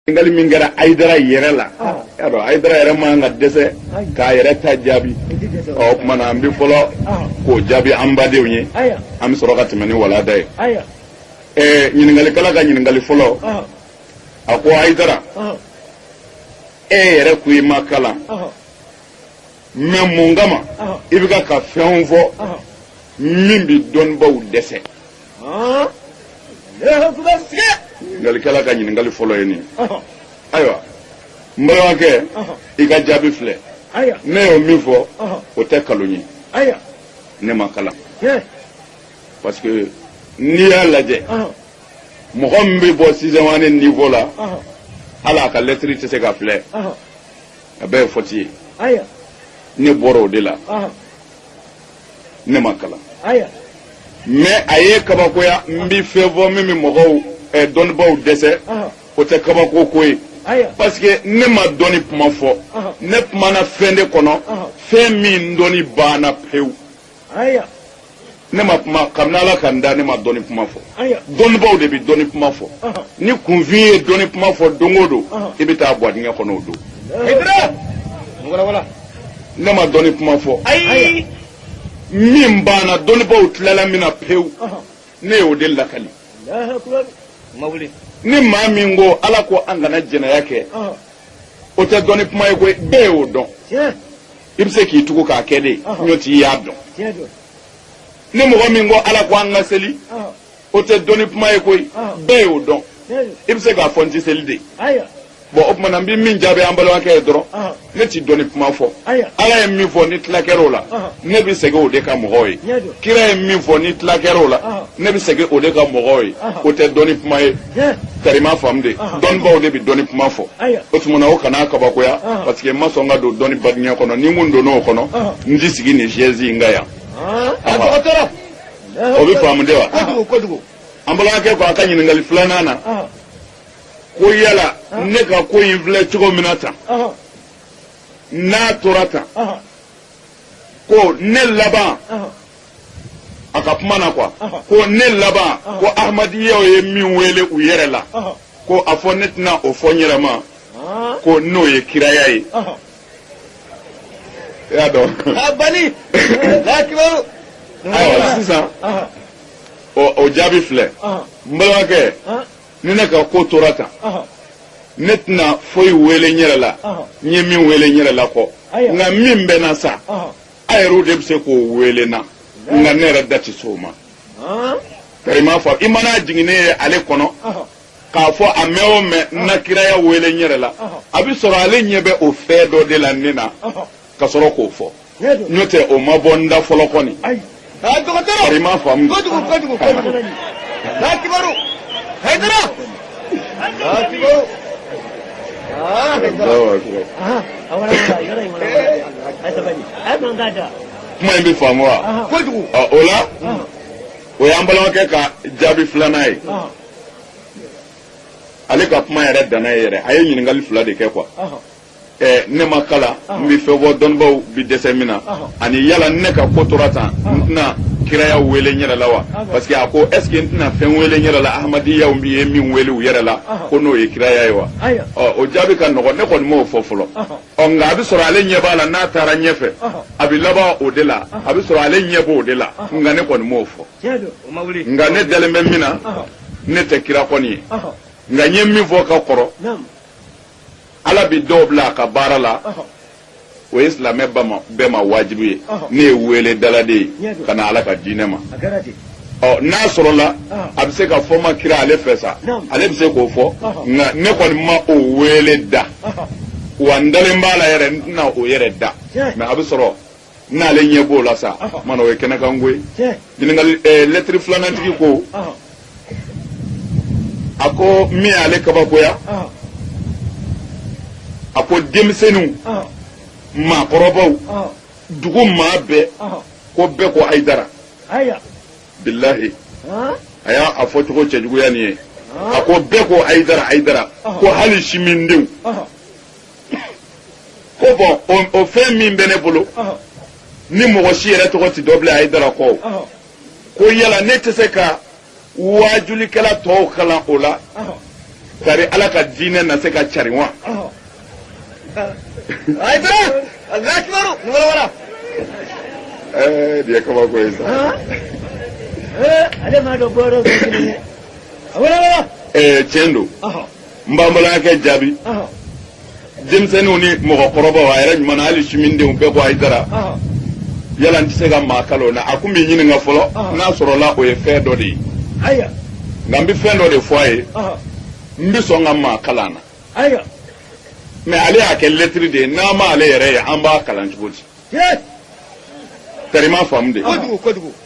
ɲininkali min kɛra ayidara yɛrɛ la y'a dɔn ayidara yɛrɛ man ka dɛsɛ k'a yɛrɛ ta jaabi ɔ o tuma na an bɛ fɔlɔ k'o jaabi an badenw ye an bɛ sɔrɔ ka tɛmɛ ni walanda ye ɛɛ ɲininkalikɛla ka ɲininkali fɔlɔ a ko ayidara e yɛrɛ ko i ma kalan mais mun kama i bɛ ka ka fɛn fɔ min bɛ dɔnnibaaw dɛsɛ ɲininkalikɛla ka ɲininkali fɔlɔ ye nin ayiwa n balimakɛ i ka jaabi filɛ ne y'o min fɔ o tɛ kalon ye ne ma kalan parce que n'i y'a lajɛ mɔgɔ min bɛ bɔ sixième année niveau la hali a ka lɛtiri tɛ se ka filɛ a bɛɛ ye faute ye ne bɔra o de la ne ma kalan mais a y'e kabakoya n bɛ fɛn fɔ min bɛ mɔgɔw eh, dɔnnibaaw dɛsɛ o tɛ kabako ko ye parce que ne ma dɔnni kuma fɔ ne kumana fɛn de kɔnɔ fɛn min dɔnni banna pewu ne ma kuma kabini ala ka n da ne ma dɔnni kuma fɔ dɔnnibaaw de bɛ dɔnni kuma fɔ ni kunfin ye dɔnni kuma fɔ don o don i bɛ taa bo dingɛ kɔnɔ o don ne ma dɔnni kuma fɔ ayi min banna dɔnnibaaw tilala min na pewu ne y'o de lakali ni maa min ko ala ko an kana jɛnɛya kɛ o tɛ dɔnni kuma ye koyi bɛɛ y'o dɔn i bɛ se k'i tugu k'a kɛ de nɔnt'i y'a dɔn ni mɔgɔ min ko ala ko an ka seli o tɛ dɔnni kuma ye koyi bɛɛ y'o dɔn i bɛ se k'a fɔ n tɛ seli dɛ bon o tuma na n bɛ min jaabi an balimakɛ ye dɔrɔn ne tɛ dɔnni kuma fɔ ala ye min fɔ ni tila kɛra o la ne bɛ segin o de kan mɔgɔw ye kira ye min fɔ ni tila kɛra o la ne bɛ segin o de kan mɔgɔw ye o tɛ dɔnni kuma ye kari i m'a faamu dɛ dɔnnibaw de bɛ dɔnni kuma fɔ o tuma na o kana kabakoya parce que n ma sɔn ka don dɔnni badenya kɔnɔ ni n kun donna o kɔnɔ n tɛ sigi nin chaise in kan yan. o bɛ faamu de wa kojugu kojugu an balimakɛ ko a ka ɲininkali filanan na ko yala ne ka ko in filɛ cogo min na tan n'a tora tan ko ne laban a ka kuma na quoi ko ne laban ko ahmadiyaw ye min wele u yɛrɛ la ko a fɔ ne tɛna o fɔ n yɛrɛ ma ko n'o ye kiraya ye e y'a dɔn a bali lakibaru ayiwa sisan o jaabi filɛ n balimakɛ ni ne ka ko tora tan ne tɛna foyi wele n yɛrɛ la n ye min wele n yɛrɛ la kɔ nka min bɛ n na sa aw yɛrɛw de bɛ se k'o wele n na nka ne yɛrɛ da tɛ s'o ma bari i m'a fɔ i mana jigin ne ye ale kɔnɔ k'a fɔ a mɛn o mɛn n na kiraya wele n yɛrɛ la a bɛ sɔrɔ ale ɲɛ bɛ o fɛn dɔ de la ne na ka sɔrɔ k'o fɔ n'o tɛ o ma bɔ n da fɔlɔ kɔni tari i m'a faamu kuma in bɛ faamu wa o la o y'an balimakɛ ka jaabi filanan ye ale ka kuma yɛrɛ danna ye yɛrɛ a ye ɲininkali fila de kɛ quoi ɛɛ ne ma kalan n bɛ fɛn fɔ dɔnnibaw bɛ dɛsɛ min na ani yala ne ka ko tora tan n tɛna kiraya wele n yɛrɛ la wa parce que a ko est ce que n tɛna fɛn wele n yɛrɛ la ahmadiyaw bɛ ye min wele u yɛrɛ la ko n'o ye kiraya ye wa ɔ o jaabi ka nɔgɔn ne kɔni m'o fɔ fɔlɔ ɔ nka a bɛ sɔrɔ ale ɲɛ b'a la n'a taara ɲɛfɛ a bɛ laban o de la a bɛ sɔrɔ ale ɲɛ b'o de la nka ne kɔni m'o fɔ nka ne dalen bɛ min na ne tɛ kira kɔni ye nka n ye min fɔ ka kɔrɔ ala bɛ dɔw bila a ka baara la o ye silamɛ bɛɛ ma wajibu ye ne ye weeledala de ye ka na ala ka diinɛ ma ɔ n'a sɔrɔla a bɛ se ka fɔ ma kira ale fɛ sa ale bɛ se k'o fɔ nka ne kɔni ma o weele da wa n dalen b'a la yɛrɛ n tɛna o yɛrɛ da mais a bɛ sɔrɔ n'ale ɲɛ b'o la sa o tuma na o ye kɛnɛkanko ye ɲininkali eh, lɛtiri filanantigi ko a ko min y'ale kabakoya a ko denmisɛnninw maakɔrɔbaw dugu maa bɛɛ ko bɛɛ ko ayidara bilahi a y'a fɔcogo cɛjuguya nin ye a ko bɛɛ ko ayidara ayidara ko hali simindenw ko bon o fɛn min bɛ ne bolo ni mɔgɔ si yɛrɛ tɔgɔ tɛ dɔn bilen ayidara kɔ ko yala ne tɛ se ka waajulikɛla tɔw kalan o la tari ala ka diinɛ na se ka carin wa ɛɛ nin ye kabako ye sa ale m'a dɔn bɔyɔrɔ dɔ kelen ye a wele wele ɛɛ tiɲɛ don n b'an balimakɛ jaabi denmisɛnninw ni mɔgɔkɔrɔbaw a yɛrɛ ɲuman na hali simindenw bɛɛ ko ayidara yala n tɛ se ka maa kalan o la a ko n b'i ɲininka fɔlɔ n'a sɔrɔla o ye fɛn dɔ de ye nka n bɛ fɛn dɔ de fɔ a ye n bɛ sɔn ka maa kalan na mais ale y'a kɛ lɛtiri de ye n'an ma ale yɛrɛ ye an b'a kalan cogo di tari m'a faamu dɛ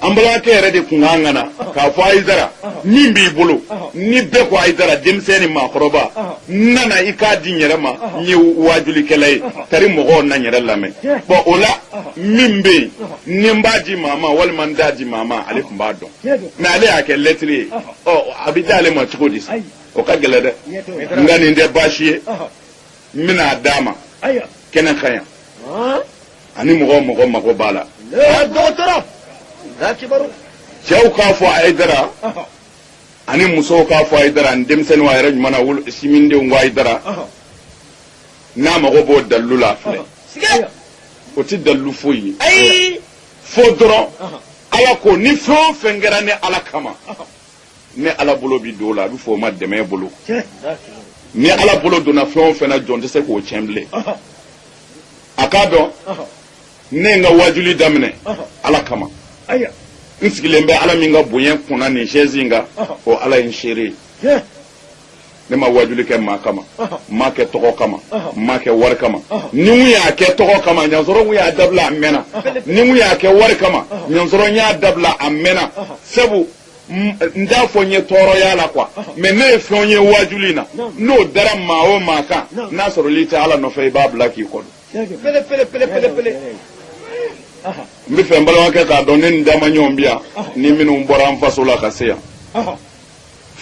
an balimakɛ yɛrɛ de kun kan ka na k'a fɔ ayidara min b'i bolo ni bɛɛ ko ayidara denmisɛn ni maakɔrɔba n nana i k'a di n yɛrɛ ma n ye waajulikɛla ye tari mɔgɔw na n yɛrɛ lamɛn bon o la min bɛ yen ni n b'a di maa ma walima n t'a di maa ma ale tun b'a dɔn mais ale y'a kɛ lɛtiri ye ɔ a bɛ d'ale ma cogo di sa o ka gɛlɛn dɛ nka nin tɛ baasi ye n bɛna a d'a ma kɛnɛ kan yan ani mɔgɔ o mɔgɔ mago b'a la dɔgɔtɔrɔ cɛw k'a fɔ ayidara ani musow k'a fɔ ayidara ani denmisɛnninw a yɛrɛ ɲuman na wolo sinmindenw ko ayidara n'a mago b'o dalilu la filɛ o tɛ dalilu foyi ye fo dɔrɔn ala ko ni fɛn o fɛn kɛra ne ala kama ne ala bolo bɛ don o la a bɛ fɔ o ma dɛmɛ bolo ni ala bolo donna fɛn o fɛn na jɔn tɛ se k'o tiɲɛ bilen a k'a dɔn ne ye n ka wajuli daminɛ ala kama n sigilen bɛ ala min ka bonya kunna nin sɛzi in kan o ala ye n seere ye ne ma wajuli kɛ maa kama n m'a kɛ tɔgɔ kama n m'a kɛ wari kama ni n y'a kɛ tɔgɔ kama ɲansɔrɔ n y'a dabila a mɛnna ni n y'a kɛ wari kama ɲansɔrɔ n y'a dabila a mɛnna sabu n t'a fɔ n ye tɔɔrɔ y'a la quoi mais ne ye fɛnw ye waajuli na n'o dara maa o maa kan n'a sɔrɔl'i tɛ ala nɔfɛ i b'a bila k'i kɔnɔ n bɛ fɛ n balimakɛ k'a dɔn ne ni damaɲɔgɔn bi yan ni minnu bɔra an faso la ka se yan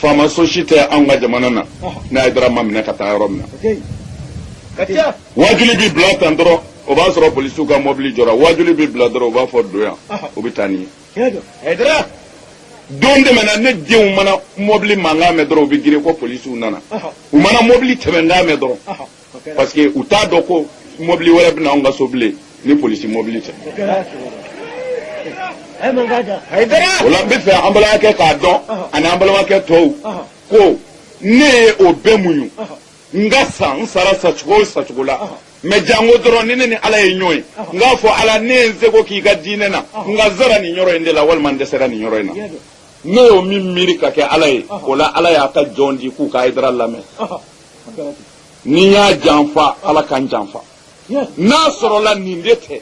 faama so si tɛ anw ka jamana na ne ayidara ma minɛ ka taa yɔrɔ min na waajuli bɛ bila tan dɔrɔn o b'a sɔrɔ polisiw ka mɔbili jɔra waajuli bɛ bila dɔrɔn u b'a fɔ don yan u bɛ taa ni n ye don tɛmɛna ne denw mana mɔbili mankan mɛn dɔrɔn u bɛ girin ko polisiw nana u mana mɔbili tɛmɛnkan mɛn dɔrɔn parce que u t'a dɔn ko mɔbili wɛrɛ bɛ na anw ka so bilen ni polisi mɔbili tɛ o la n b'a fɛ an balimakɛ k'a dɔn ani an balimakɛ tɔw ko ne ye o bɛɛ muɲu N ka sa n sara sacogo o sacogo la mais janko dɔrɔn ni ne ni ala ye ɲɔgɔn ye n k'a fɔ ala ne ye n seko k'i ka diinɛ na nka n sara nin yɔrɔ in de la walima n dɛsɛra nin yɔrɔ in na ne y'o min miiri ka kɛ ala ye o la ala y'a ka jɔn di k'u ka ayidara lamɛn ni n y'a janfa ala ka n janfa n'a sɔrɔla nin de tɛ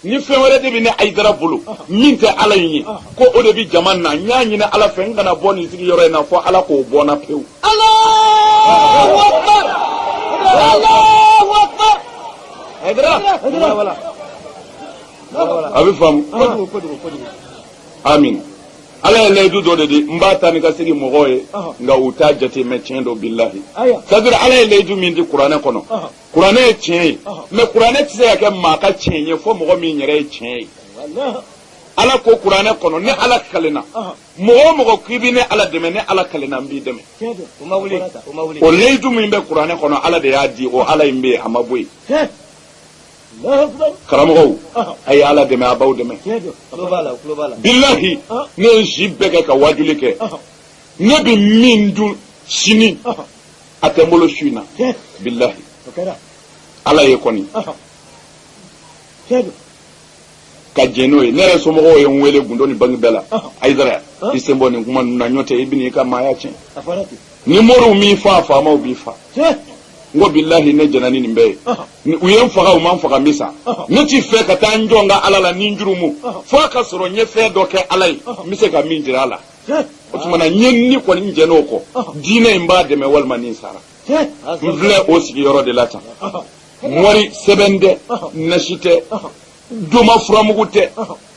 ni fɛn wɛrɛ de bɛ ne ayidara bolo min tɛ ala in ye ko o de bɛ jama na n y'a ɲini ala fɛ n kana bɔ nin sigi yɔrɔ in na fo ala k'o bɔ n na pewu. a bɛ faamu amin ala ye layidu dɔ de di n b'a ta ni ka segin mɔgɔw ye nka u t'a jate mais tiɲɛ don bilahi c'est-à-dire ala ye layidu min di kuranɛ kɔnɔ kuranɛ ye tiɲɛ ye mais kuranɛ tɛ se ka kɛ maa ka tiɲɛ ye fo mɔgɔ min yɛrɛ ye tiɲɛ ye ala ko kuranɛ kɔnɔ ne ala kalenna mɔgɔ o mɔgɔ k'i bɛ ne ala dɛmɛ ne ala kalenna n b'i dɛmɛ o layidu min bɛ kuranɛ kɔnɔ ala de y'a di o ala in bɛ yen a ma bɔ yen karamɔgɔw a ye ala dɛmɛ a b'aw dɛmɛ bilahi ne ye n si bɛɛ kɛ ka waajuli kɛ ne bɛ min dun sini a tɛ n bolo su in na tiɲɛ bilahi o kɛra ala ye kɔni ɔhɔ tiɲɛ don ka jɛn n'o ye ne yɛrɛ somɔgɔw ye n wele gundo ni bangi bɛɛ la Ɔhɔ. ayidara Ɔhɔ. i sen bɔ nin kuma ninnu na n'o tɛ i bɛna i ka maaya tiɲɛ a fɔra ten ni moriw m'i faa faamaw b'i faa tiɲɛ n ko bilahi ne jɛnna ni nin bɛɛ ye ɔhɔ Ni u ye n faga u ma n faga n bɛ sa Ɔhɔ. ne t'i fɛ ka taa n jɔ n ka ala la ni n jurumu Ɔhɔ. fo a ka sɔrɔ n ye fɛn dɔ kɛ ala ye Ɔhɔ. n bɛ se ka min jira a la o tuma na ne ni kɔni n jɛnna o kɔ diinɛ in b'a dɛmɛ walima ni n sara n filɛ o sigiyɔrɔ de la tan mori sɛbɛn tɛ nasi tɛ doma furamugu tɛ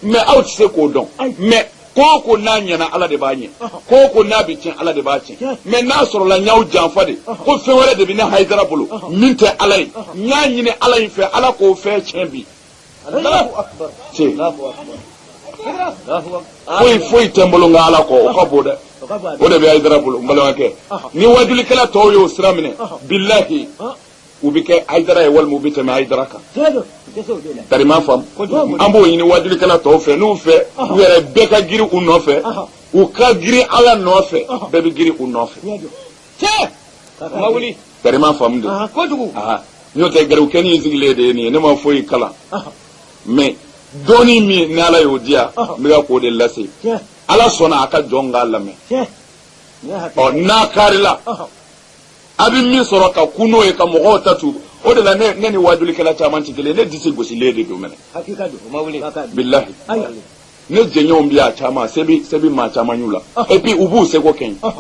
mais aw tɛ se k'o dɔn mais ko o ko n'a ɲɛna ala de b'a ɲɛ ko o ko n'a bɛ tiɲɛ ala de b'a tiɲɛ mais n'a sɔrɔla n y'aw janfa de ko fɛn wɛrɛ de bɛ ne hayidara bolo min tɛ ala ye n y'a ɲini ala in fɛ ala k'o fɛn tiɲɛ bi foyi foyi tɛ n bolo n ka ala kɔ o ka bon dɛ o de bɛ ayidara bolo n balimakɛ ni wajulikɛla tɔw y'o sira minɛ bilahi u bɛ kɛ ayidara ye walima u bɛ tɛmɛ ayidara kan kaari ma faamu an b'o ɲini wajulikɛla tɔw fɛ n'u fɛ u yɛrɛ bɛɛ ka girin u nɔfɛ u ka girin ala nɔfɛ bɛɛ bɛ girin u nɔfɛ kaari ma faamu de n'o tɛ garibukɛnin sigilen de ye nin ye ne ma foyi kalan mais dɔɔni min ni ala y'o di yan n bɛ ka k'o de lase ala sɔnna a ka jɔn k'a lamɛn ɔ n'a kaarila a bɛ min sɔrɔ ka kun o ye ka mɔgɔw ta to o de la ne ni wajulikɛla caman tɛ kelen ne disi gosilen de don mɛnɛ bilahi ne jɛɲɔgɔnw bɛ yan caman se bɛ maa caman y'u la et puis u b'u seko kɛ n ye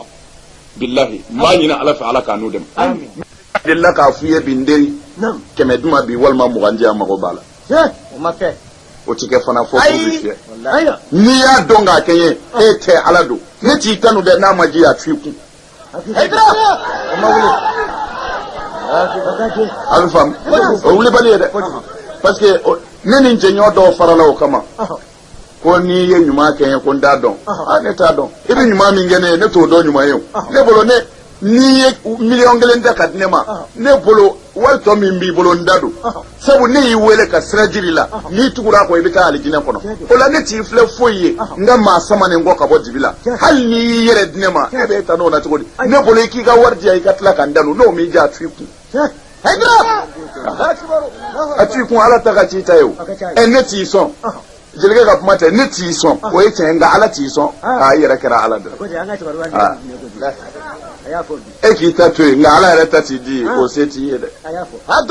bilahi n b'a ɲini ala fɛ ala k'a n'u dɛmɛ a delila k'a f'u ye bi n teri kɛmɛ di n ma bi walima mugan di yan mago b'a la o ma kɛ o ti kɛ fana fo k'u bɛ fiyɛ n'i y'a dɔn k'a kɛ n ye e tɛ ala don ne t'i tanu dɛ n'a ma diya a to i kun a bɛ faamu o wulibali ye dɛ parce que ne ni n jɛɲɔgɔn dɔw farala o kama ko n'i ye ɲuman kɛ n ye ko n t'a dɔn aa ne t'a dɔn i bɛ ɲuman min kɛ ne ye ne t'o dɔn ɲuman ye o ne bolo ne n'i ye miliyɔn kelen ta k'a di ne ma ne bolo wari tɔ min b'i bolo n ta don sabu ne y'i wele ka sira jir'i la n'i tugura a kɔ i bɛ taa alijinɛ kɔnɔ o la ne t'i filɛ foyi ye n ka maa samanen kɔ ka bɔ dibi la hali n'i y'i yɛrɛ di ne ma e bɛ ta n'o na cogo di ne bolo i k'i ka wari di yan i ka tila ka n tanu n'o m'i diya a t'i kun a t'i kun ala ta ka t'i ta ye o ɛ ne t'i sɔn jelikɛ ka kuma tɛ ne t'i sɔn o ye tiɲɛ nka ala t'i sɔn aa i yɛrɛ kɛra ala dɔ e k'i ta to yen nka ala yɛrɛ ta t'i di ye o se t'i ye dɛ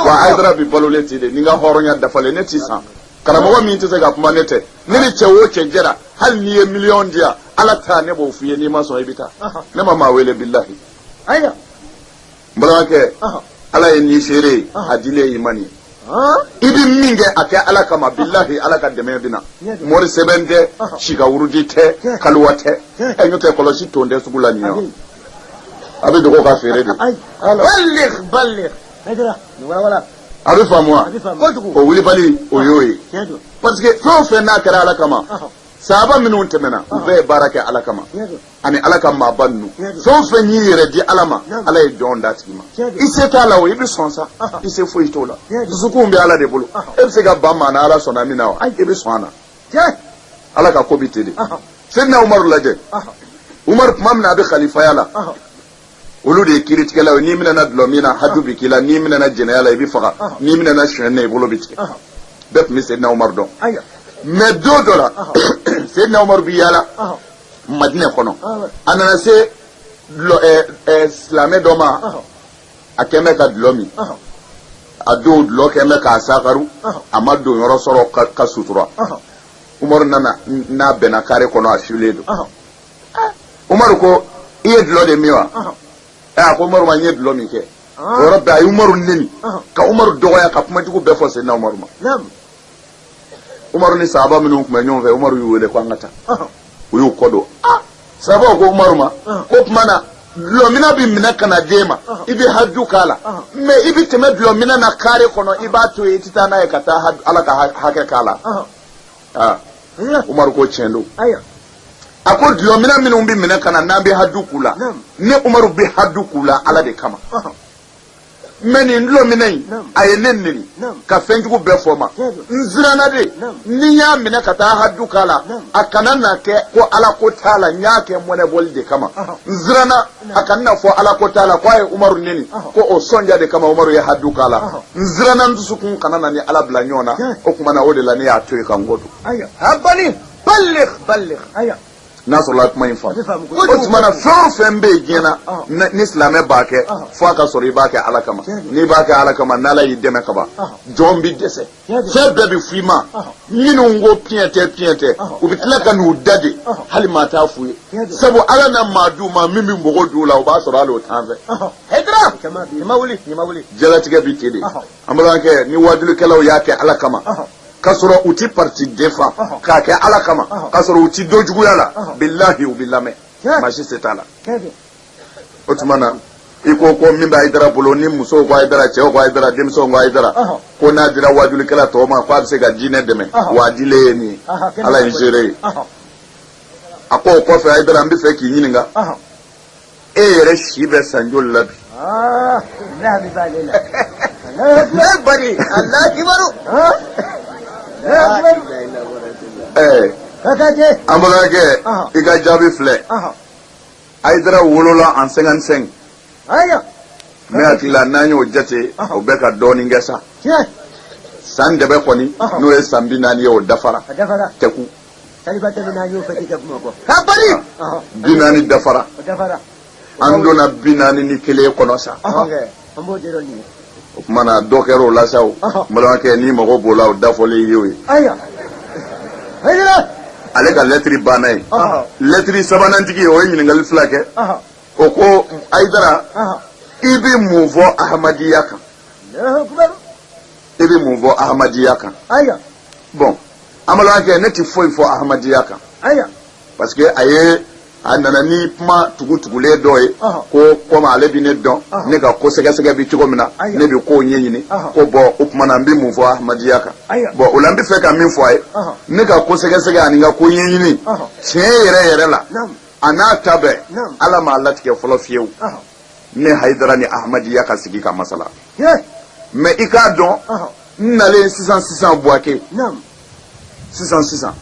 wa hayidara bi balolen t'i de ni n ka hɔrɔnya dafalen ne t'i san karamɔgɔ min tɛ se ka kuma ne tɛ ne ni cɛ o cɛ jɛra hali n'i ye miliyɔn di yan ala ta ne b'o f'i ye n'i ma sɔn i bɛ taa ne ma maa wele bilahi n balimakɛ ala ye ne seere ye a dilen ye i ma nin ye i bɛ min kɛ a kɛ ala kama bilahi ala ka dɛmɛ bɛ na mori sɛbɛn tɛ sikawurudi tɛ kaliwa tɛ ɛ n'o tɛ kɔlɔsi tun tɛ sugu la nin yan a bɛ dogo ka feere de a bɛ faamu wa o wulibali o y'o ye parce que fɛn o fɛn n'a kɛra ala kama sahaba minnu tɛmɛna u bɛɛ ye baara kɛ ala kama ani ala ka maaba ninnu fɛn o fɛn y'i yɛrɛ di ala ma ala ye jɔn d'a tigi ma i se t'a la o i bɛ sɔn sa i se foyi t'o la dusukunw bɛ ala de bolo e bɛ se ka ban maa na ala sɔnna min na wa i bɛ sɔn a na ala ka ko bɛ ten de seyidina umaru lajɛ umaru tuma min na a bɛ kalifaya la olu de ye kiritigɛlaw ye n'i minɛna dulɔ min na haju bɛ k'i la n'i minɛna jɛnɛya la i bɛ faga n'i minɛna sonyɛn na i bolo bɛ tigɛ bɛɛ tun bɛ seyidina umaru dɔn mais don dɔ la seyidina umaru bɛ yaala madinɛ kɔnɔ a nana se silamɛ dɔ ma a kɛlen bɛ ka dulɔ min a don dulɔ kɛlen bɛ k'a sakaru a ma donyɔrɔ sɔrɔ ka sutura umaru nana n'a bɛnna kare kɔnɔ a filen don umaru ko i ye dulɔ de min wa a ko umaru ma n ye dulɔ min kɛ o yɔrɔ bɛɛ a ye umaru neni ka umaru dɔgɔya ka kuma jugu bɛɛ fɔ seyidina umaru ma umaru ni sahaba minnu tun bɛ ɲɔgɔn fɛ umaru y'u wele ko an ka taa u y'u kɔ don ah! sahabaw ko umaru ma k'o tuma na dulɔmina bɛ minɛ ka na d'e ma i bɛ haju k'a la mais i bɛ tɛmɛ dulɔmina na kare kɔnɔ i b'a to yen i tɛ taa n'a ye ka taa ala ka hakɛ k'a la ah! umaru ko tiɲɛ don a ko dulɔmina minnu bɛ minɛ ka na n'an bɛ haju k'u la ne umaru bɛ haju k'u la ala de kama mais nin dulɔmina in a ye ne neni ka fɛnjugu bɛɛ fɔ n ma n siranna de ni n y'a minɛ ka taa haju k'a la a kana na kɛ ko ala ko t'a la n y'a kɛ mɔnɛbɔli de kama n siranna a kana na fɔ ala ko t'a la ko a ye umaru neni ko o sɔnja de kama umaru ye haju k'a la n siranna n dusukun kana na n ni ala bila ɲɔgɔn na o tuma na o de la ne y'a to yen ka n kɔ don n'a sɔrɔla kuma in faamu o tuma na fɛn o fɛn bɛ yen diɲɛ na ni silamɛ b'a kɛ fo a ka sɔrɔ i b'a kɛ ala kama n'i b'a kɛ ala kama n'ala y'i dɛmɛ kaban jɔn bɛ dɛsɛ fɛn bɛɛ bɛ f'i ma minnu ko piɲɛ tɛ piɲɛ tɛ u bɛ tila ka n'u da de hali maa t'a f'u ye sabu ala na maa d'u ma min bɛ mɔgɔ d'u la o b'a sɔrɔ hali o t'an fɛ jalatigɛ bɛ ten de An balimakɛ ni waajulikɛlaw y'a kɛ ala kama k'a sɔrɔ u tɛ parti défendre k'a kɛ ala kama k'a sɔrɔ u tɛ dɔ juguya la bilahi u bɛ lamɛn maa si se t'a la o tuma na i ko ko min bɛ hayidara bolo ni musow ko hayidara cɛw ko hayidara denmisɛnw ko hayidara ko n'a dira waajulikɛla tɔw ma ko a bɛ se ka diinɛ dɛmɛ wa a dilen ye nin ala ye n seere ye a ko o kɔfɛ hayidara n bɛ fɛ k'i ɲininka e yɛrɛ si bɛ san joli la bi ne bari a la kibaru ɛɛ an balimakɛ i ka jaabi filɛ ayidara wolola en cinquante-cinq ne hakili la n'an y'o jate o bɛ ka dɔɔnin kɛ sa san dɛbɛ kɔni n'o ye san bi naani ye o dafara tɛku taliba tɛmɛ n'a y'o fɛti kɛ bamakɔ ka bali bi naani dafara dafara an donna bi naani ni kelen kɔnɔ sa an b'o jɛrɛ ɲini o tuma na dɔ kɛra o la sa o n balimakɛ n'i mago b'o la o dafɔlen ye o ye ayiwa ale ka lɛtiri banna ye lɛtiri sabanantigi o ye ɲininkali fila kɛ o ko ayidara i bɛ mun fɔ ahamadiya kan i bɛ mun fɔ ahamadiya kan bɔn an balimakɛ ne tɛ foyi fɔ ahamadiya kan parce que a ye a nana ni kuma tugutugulen dɔ ye ko komi ale bɛ ne dɔn ne ka ko sɛgɛsɛgɛ bi cogo min na ne bɛ kow ɲɛɲini ko bɔn o tuma na n bɛ mun fɔ ahamadiya kan bɔn o la n bɛ fɛ ka min fɔ a ye ne ka ko sɛgɛsɛgɛ ani n ka ko ɲɛɲini tiɲɛ yɛrɛ yɛrɛ la a n'a ta bɛɛ ala m'a latigɛ fɔlɔ fiyewu ne hayidara ni ahamadiya ka sigi ka masala mɛ i k'a dɔn n nalen sisan sisan buwake sisan sisan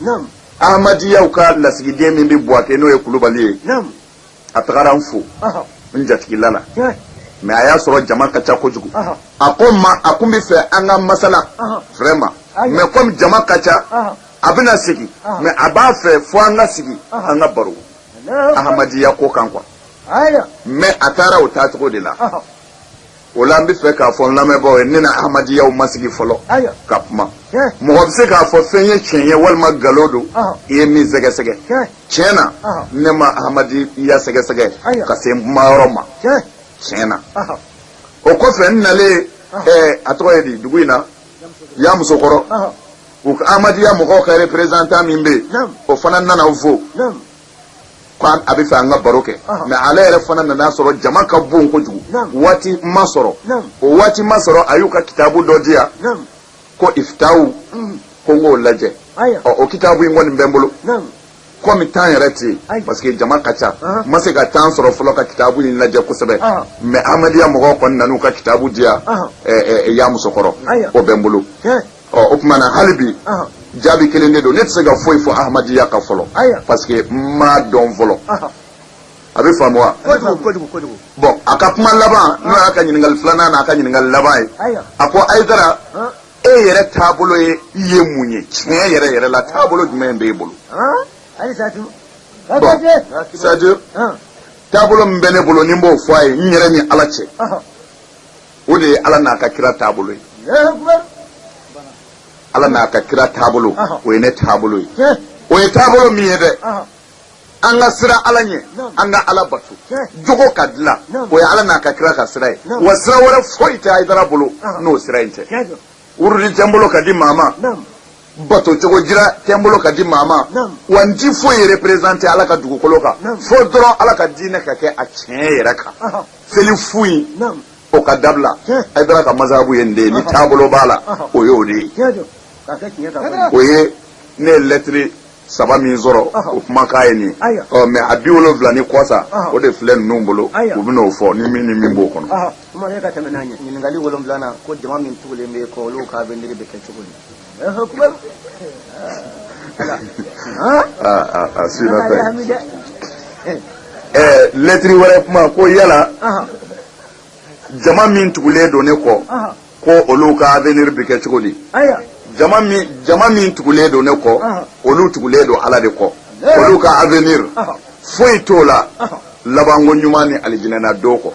ahamadiyaw ka lasigiden min bɛ buwake n'o ye kulubali ye a tagara n fo n jatigila la mɛ a y'a sɔrɔ jama ka ca kojugu a ko n ma a kun bɛ fɛ an ka masala vraiment mɛ komi jama ka ca a bɛna segin mɛ a b'a fɛ fo an ka sigi an ka baro ahamadiya ko kan kuwa mɛ a taara o taacogo de la o la an bɛ fɛ k'a fɔ n lamɛnbaaw ye ne na ahmadiyyaw ma sigi fɔlɔ ka kuma mɔgɔ bɛ se k'a fɔ fɛn ye tiɲɛ ye walima nkalon don i ye min sɛgɛsɛgɛ tiɲɛ na ne ma ahmadiyya sɛgɛsɛgɛ ka se n kuma yɔrɔ ma tiɲɛ na o kɔfɛ n nalen a tɔgɔ ye di dugu in na yamusokɔrɔ u ka ahmadiyya mɔgɔw ka représentant min bɛ yen o fana nana n fo. ko a bɛ fɛ an ka baro kɛ mais ale yɛrɛ fana nan'a sɔrɔ jama ka bon kojugu waati ma sɔrɔ o waati ma sɔrɔ a y'u ka kitabu dɔ di yan ko iftahu ko n k'o lajɛ o kitabu in kɔni bɛ n bolo kɔmi temps yɛrɛ tɛ yen parce que jama ka ca n ma se ka temps sɔrɔ fɔlɔ ka kitabu in lajɛ kosɛbɛ mais ahmadiyya mɔgɔw kɔni nan'u ka kitabu di yan yamusokɔrɔ o bɛ n bolo ɔ o tuma na hali bi jaabi kelen de don ne tɛ se ka foyi fɔ ahmadiyya kan fɔlɔ parce que n m'a dɔn fɔlɔ a bɛ faamu wa bon a ka kuma laban n'o y'a ka ɲininkali filanan n'a ka ɲininkali laban ye a ko ayidara e yɛrɛ taabolo ye i ye mun ye tiɲɛ yɛrɛ yɛrɛ la taabolo jumɛn b'e bolo bon c'est-à-dire taabolo min bɛ ne bolo ni n b'o fɔ a ye n yɛrɛ ni ala cɛ o de ye ala n'a ka kira taabolo ye ala n'a ka kira taabolo o ye ne taabolo ye o ye taabolo min ye dɛ an ka siran ala ɲɛ an ka ala bato jogo ka dilan o ye ala n'a ka kira ka sira ye wa sira wɛrɛ foyi tɛ ayidara bolo n'o sira in tɛ wurudi tɛ n bolo ka di maa ma bato cogo jira tɛ n bolo ka di maa ma wa n ti foyi représenter ala ka dugukolo kan fo dɔrɔn ala ka diinɛ ka kɛ a tiɲɛ yɛrɛ kan seli fu in o ka dabila ayidara ka mazabu ye nin de ye ni taabolo b'a la o y'o de ye o ye ne ye lɛtiri saba min sɔrɔ o kumakan ye nin ye ɔ mais a bi wolonfila ni kɔ sa o de filɛ ninnu bolo u bɛ n'o fɔ ni min ni min b'o kɔnɔ. Ɔhɔn, Umaru e ka tɛmɛ n'a ɲɛ ɲininkali wolonwulanan ko jama min tugulen bɛ e kɔ olu ka avenir bɛ kɛ cogo di? akbar lɛtiri wɛrɛ kuma ko yala jama min tugulen don ne kɔ ko olu ka avenir bɛ kɛ cogo di jama min tugulen don ne kɔ olu tugulen don ala de kɔ olu ka avenir foyi t'o la labanko ɲuman ni alijinɛna don kɔ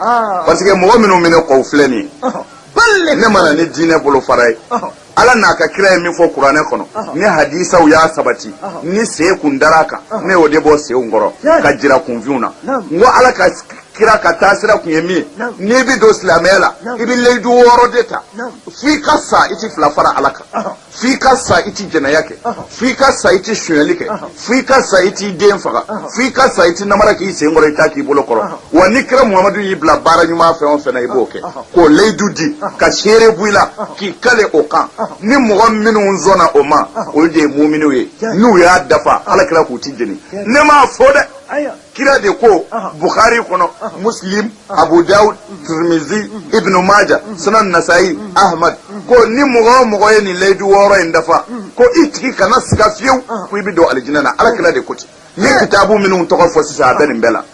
parce que mɔgɔ minnu bɛ ne kɔ u filɛ nin ye ne ma na ni diinɛ bolofara ye ala n'a ka kira ye min fɔ kuranɛ kɔnɔ ni hadisaw y'a sabati ni sen kun dar'a kan ne y'o de bɔ senw kɔrɔ ka jira kunfinw na n ko ala ka kira ka taasira kun ye min ye n'i bi don silamɛya la i bi layidu wɔɔrɔ de ta f'i ka sa i ti fila fara ala kan f'i ka sa i ti jɛnɛya kɛ fo i ka sa i tɛ sonyali kɛ fo i ka sa i t'i den faga fo i ka sa i tɛ namara k'i sen kɔrɔ i t'a k'i bolo kɔrɔ wa ni kira muhamadu y'i bila baara ɲuman fɛn o fɛn na i b'o kɛ k'o layidu di ka seere bɔ i la k'i kale o kan ni mɔgɔ minnu sɔnna o ma olu de ye muminiw ye n'u y'a dafa ala kira k'u tɛ jeni ne m'a fɔ dɛ kira de ko bukhari kɔnɔ muslim abu daud tirmizi ibnu maja sunan nasayi ahmad ko ni mɔgɔ o mɔgɔ ye nin layidu wɔɔrɔ in dafa ko i tigi kana siga fiyewu ko i bɛ don alijinɛ na ala kira de ko ten n ye kitabu minnu tɔgɔ fɔ sisan a bɛ nin bɛɛ la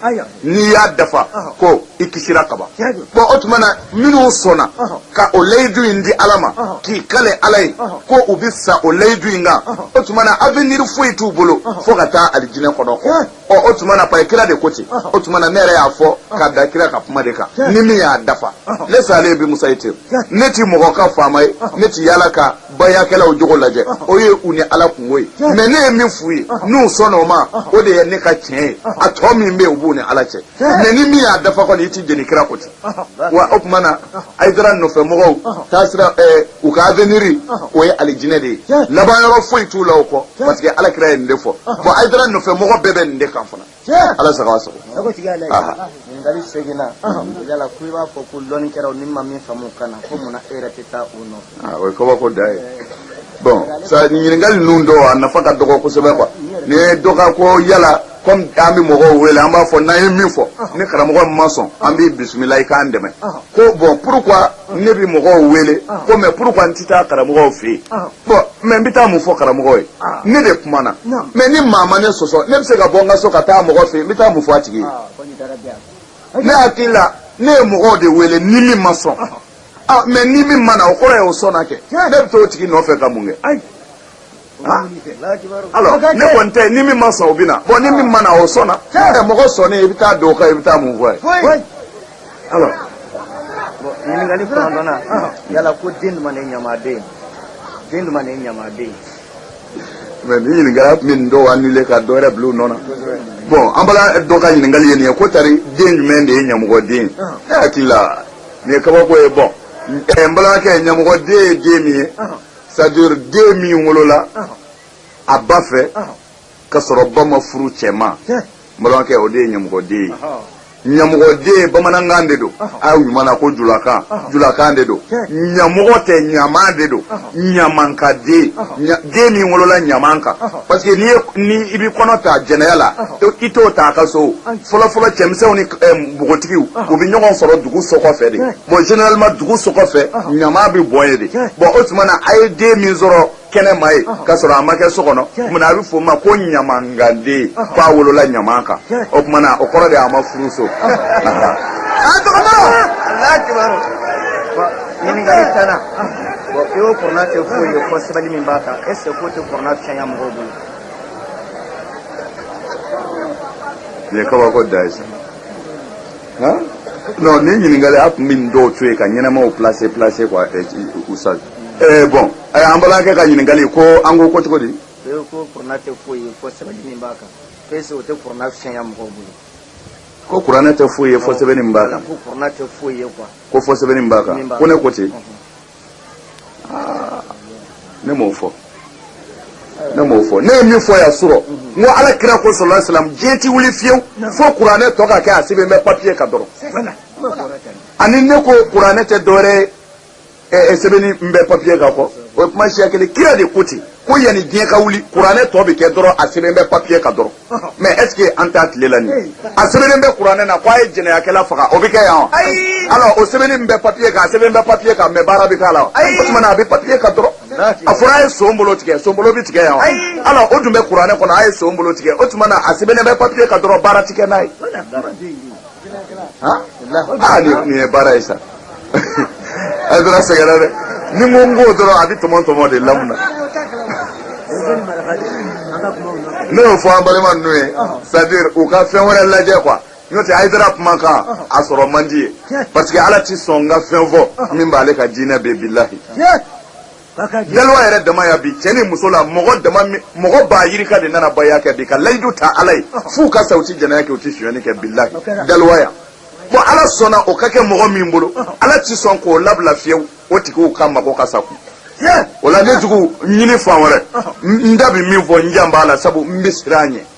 n'i y'a dafa ko i kisira kaban bɔn o tuma na minnu sɔnna ka o layidu in di ala ma k'i kale ala ye ko u bɛ sa o layidu in kan o tuma na avenir foyi t'u bolo fo ka taa alijinɛ kɔnɔ ɔ o tuma na paye kira de ko ten o tuma na ne yɛrɛ y'a fɔ ka da kira ka kuma de kan ni min y'a dafa ne salen bi musa ye ten ne ti mɔgɔ ka faama ye ne ti yala ka bayakɛlaw jogo lajɛ o ye u ni ala kungo ye mɛ ne ye min f'u ye n'u sɔnna o ma o de ye ne ka tiɲɛ ye a tɔ min bɛ yen o b'u ni ala cɛ mɛ ni min y'a dafa kɔni i ti jeni kira ko ten wa o tuma na ayidara nɔfɛ mɔgɔw taasira u ka aveniri o ye alijinɛ de ye laban yɔrɔ foyi t'u la o kɔ parce que ala kira ye nin de fɔ bon ayidara nɔfɛ mɔgɔ bɛɛ bɛ nin de kan fana ala sago a sago ɲininkali seeginnan yala ko i b'a fɔ ko lɔnnikɛlaw ni ma min faamu ka na ko munna e yɛrɛ tɛ taa u nɔfɛ o ye kabako dan ye bon sa ɲininkali ninnu dɔw a nafa ka dɔgɔ kosɛbɛ quoi nin ye dɔ ka ko yala kɔmi an bɛ mɔgɔw wele an b'a fɔ n'an ye min fɔ ni karamɔgɔ min ma sɔn an b'i bisimila i k'an dɛmɛ ko bɔn pourquoi ne bɛ mɔgɔw wele ko mɛ pourquoi n tɛ taa karamɔgɔw fɛ yen bɔn mɛ n bɛ taa mun fɔ karamɔgɔ ye ne de kumana mɛ ni maa ma ne sɔsɔ ne bɛ se ka bɔ n ka so ka taa mɔgɔ fɛ yen n bɛ taa mun fɔ a tigi ye ne hakili la ne ye mɔgɔw de wele ni min ma sɔn mɛ ni min ma na o kɔrɔ ye o sɔnna kɛ ne bɛ taa o tigi nɔfɛ ka mun kɛ ne kɔni tɛ ni min ma sɔn o bɛ na bɔn ni min ma na o sɔnna ɛ mɔgɔ sɔnnen i bɛ taa don o kan i bɛ taa mun f'o ye. ɲininkali kɔnɔntɔnnan yala ko den jumɛn de ye ɲamaden den jumɛn de ye ɲamaden. mɛ ni ɲininkali tun bɛ nin dɔw annuler ka dɔ wɛrɛ bila u nɔ na bɔn an balima dɔ ka ɲininkali ye nin ye ko tari den jumɛn de ye ɲamɔgɔden ye ne hakili la nin ye kabako ye bɔn n balimakɛ ɲamɔgɔden ye den min ye. c'est-à-dire den min wolola a ba fɛ ka sɔrɔ ba ma furu cɛ ma n balimakɛ o de ye ɲamɔgɔden ye ɲamɔgɔden bamanankan de don a ɲuman na ko julakan julakan de don ɲamɔgɔ tɛ ɲaman de don ɲaman kan den den min wolola ɲaman kan parce que ni i bɛ kɔnɔ ta jɛnɛya la i t'o ta a ka so fɔlɔfɔlɔ cɛmisɛnw ni npogotigiw u bɛ ɲɔgɔn sɔrɔ dugu sokɔfɛ de Bon généralement dugu so kɔfɛ ɲaman bɛ bɔn yen de bon o tuma na a ye den min sɔrɔ kɛnɛ ma yen ka sɔrɔ a ma kɛ so kɔnɔ a bɛ fɔ o ma ko ɲamankanden k'a wolola ɲaman kan o tuma na o kɔrɔ de a ma furu so ye kabako dan ye non nin ɲininkali a tun bɛ nin dɔw to yen ka ɲɛnamaw placer placer quoi Ustaz eh bon an balimakɛ ka ɲininkali ko an ko ko cogo di ko kurana tɛ foyi ye fo sɛbɛnni min b'a kan ko est-ce que o tɛ kurana sɛnya mɔgɔw bolo ko kuranɛ tɛ foyi ye fo sɛbɛnni min b'a kan ko kuranɛ tɛ foyi ye quoi ko fo sɛbɛnni min b'a kan ko ne ko ten ah, ne m'o fɔ ne m'o fɔ ne ye min fɔ yan surɔ n ko ala kira ko salalahu alayihi wasalam diɲɛ ti wuli fiyewu fo kuranɛ tɔ ka kɛ a sɛbɛn bɛ papiye kan dɔrɔn ani ne ko kuranɛ tɛ dɔwɛrɛ ye eh, eh, sɛbɛnni min bɛ papiye kan kɔ o ye kuma siya kelen kira de ko ten ko yanni diɲɛ ka wuli kuranɛ tɔ bɛ kɛ dɔrɔn a sɛbɛn bɛ papiye kan dɔrɔn mais est-ce que an t'a tile la nin a sɛbɛnnen bɛ kuranɛ na k'a ye jɛnɛyakɛla faga o bɛ kɛ yan wa alors o sɛbɛnni bɛ papiye kan a sɛbɛn bɛ papiye kan mais baara bɛ k'a la wa o tuma na a bɛ papiye kan dɔrɔn a fɔra a ye son bolo tigɛ son bolo bɛ tigɛ yan alors o dun bɛ kuranɛ kɔnɔ a ye son bolo tigɛ o tuma na a sɛbɛnnen bɛ papiye kan dɔrɔn baara ti kɛ n'a ye aa nin ye baara ye sa ayidara sɛgɛnna dɛ ni ko n k'o dɔrɔn a bɛ tɔmɔ tɔmɔ de la mun na ne y'o fɔ an balima ninnu ye c'est à dire u ka fɛn wɛrɛ lajɛ quoi n'o tɛ ayidara kuma kan a sɔrɔ man di yen parce que ala ti sɔn n ka fɛn fɔ min b'ale ka diinɛ bɛn bilahi Dalowa yɛrɛ dama yan bi cɛ ni muso la mɔgɔ dama min mɔgɔ ba yirika de nana baya kɛ bi ka layidu ta Ala ye f'u ka sa u tɛ jɛnɛya kɛ u tɛ sonyali kɛ bilahi dalowa yan bon Ala sɔnna o ka kɛ mɔgɔ min bolo Ala tɛ sɔn k'o labila fiyewu o tigiw ka mago ka sa kun o la ne jugu n ɲini fan wɛrɛ n da bɛ min fɔ n jan b'a la sabu n bɛ siran a ɲɛ